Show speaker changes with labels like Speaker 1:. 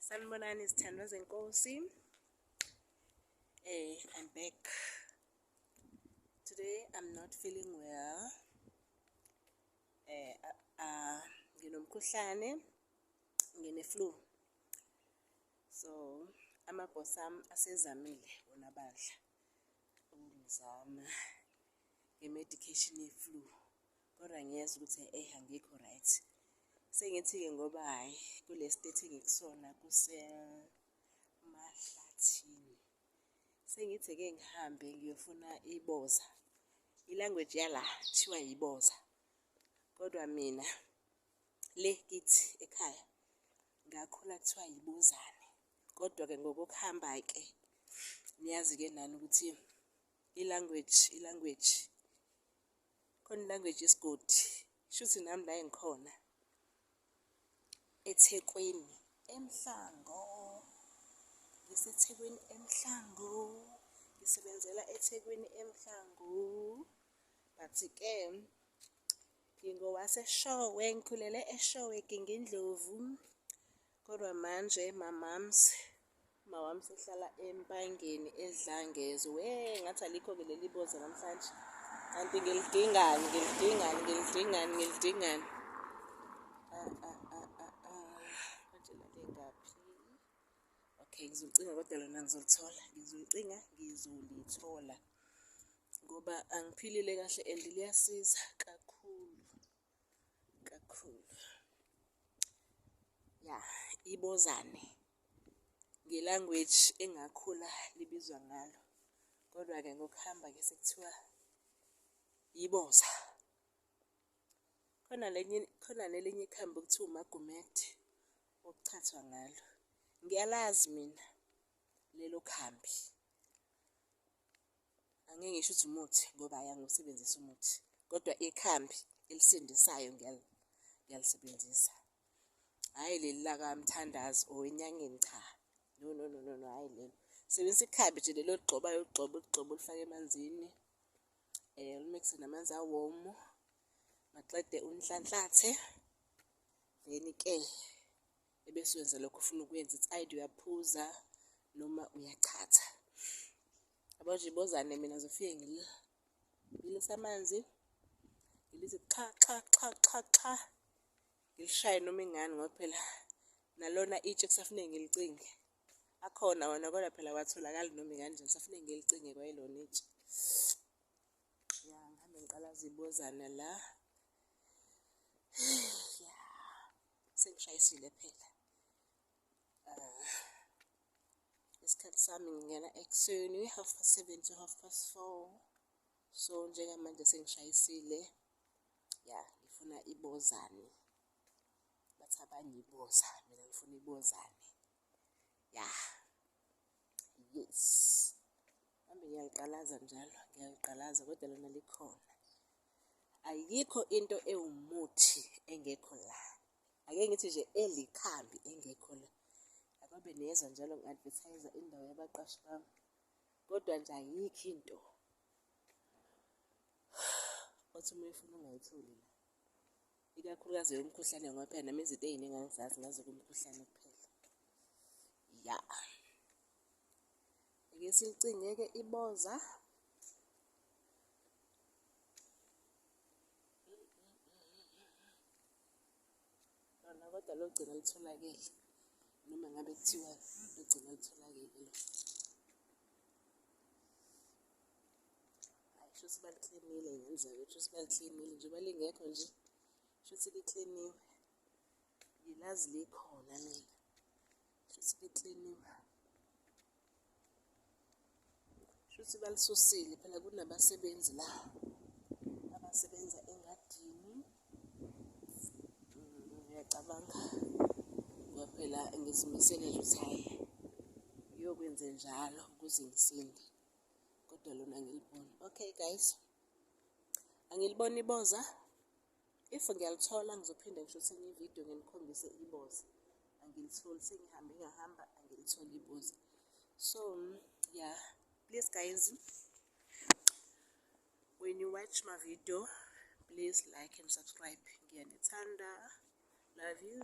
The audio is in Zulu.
Speaker 1: sanibonani izithandwa zenkosi eh i'm back today i'm not feeling well eh uh, uh, nginomkhuhlane ngine-flu so amabhosi ami asezamile wona badla ukungizama nge-medication ye-flu Kodwa ngiyeza ukuthi eh angikho right. Sengithi-ke ngoba hhayi kule state engikusona kusemahlathini. Sengithi-ke ngihambe ngiyofuna iboza. Ilanguage yala kuthiwa yiboza. Kodwa mina le kithi ekhaya ngakhula kuthiwa yibuzane. Kodwa-ke ngokukuhamba-ke niyazi-ke nani ukuthi ilanguage ilanguage. Khona language yesigodi shuthi nami la engikhona eThekwini eMhlango ngiseThekwini eMhlango ngisebenzela eThekwini eMhlango but ke ngingowaseshowe ngikhulele eshowe gingindlovu kodwa manje mamams Umawami sehlala empangeni edlangezo. Wee ngathi alikho-ke leli boza namhlanje. Kanti ngilidingani, ngilidingani, ngilidingani, ngilidingani. Ah, ah, ah, ah, ah. Manje lale ngaphi? Okay, ngizolicinga kodwa lona ngizolithola. Ngizolicinga, ngizolithola. Ngoba angiphilile kahle and liyasiza kakhulu. kakhulu ya ibozane ngelanguage engakhula libizwa ngalo kodwa-ke ngokuhamba ke sekuthiwa yiboza khona lenye khona nelinye ikhambi okuthiwa umagumethe okuchathwa ngalo ngiyalazi mina lelo khambi Angeke ngisho ukuthi umuthi ngoba hhayi angiwusebenzisi umuthi kodwa ikhambi elisindisayo ngiyalisebenzisa. Hhayi leli lakamthandazi or enyangeni cha no no no no no hhayi lelo. Sebenzisa ikhambi nje leli oligxobayo uligxobe uligxobe ulifake emanzini um eh, ulimikse namanzi awomu maqede unhlanhlathe then-ke ebese wenza lokho ufuna ukwenza it's either uyaphuza noma uyachatha abanje bozane mina zofike ngila ngilisa amanzi ngilithi xa xa xa xa xa ngilishaye noma ingani ngoba phela nalona itshe kusafuneke ngilicinge akhona wona kodwa phela watholakali noma ikanjani kusafuneke ngilicinge kwayelona itshe ya ngihambe ngiqala zibozana la sengishayisile phela uh, isikhathi sami ngingena ekuseni half past seven to half past four so njengamanje sengishayisile ya ngifuna ibozane bathi abanye iboza mina ngifuna ibozane ya yes ngihambe ngiyaliqalaza njalo ngiyaliqalaza kodwa lona likhona Ayikho into ewumuthi engekho la. Ake ngithi nje elikhambi engekho la. Akabe niyezwa njalo ngi-advertise indawo yabaqashi bami. Kodwa nje ayikho into othi uma uyifuna ungayitholi la. Ikakhulukazi yomkhuhlane ngoba phela nami izinto ey'ningi angizazi ngazi kumkhuhlane kuphela. Ya. Ake silicingeke iboza. Lona kodwa logcina litholakele noma ngabe kuthiwa logcina litholakele lo. Hayi shuthi baliklinile ngenzeka ukuthi shuthi baliklinile njengoba lingekho nje shuthi likliniwe. ngilazi likhona mina shuthi likliniwe shuthi balisusile phela kunabasebenzi la abasebenza engadini mm, ngiyacabanga ngoba phela ngizimisele nje ukuthi hhayi ngiyokwenze njalo ukuze ngisinde kodwa lona ngilibona okay guys angiliboni iboza if ngiyalithola ngizophinde ngisho senye ividiyo nginikhombise iboza angilitholi sengihambe ngahamba angilitholi iboza so yeah please guys when you watch my video please like and subscribe ngiyanithanda love you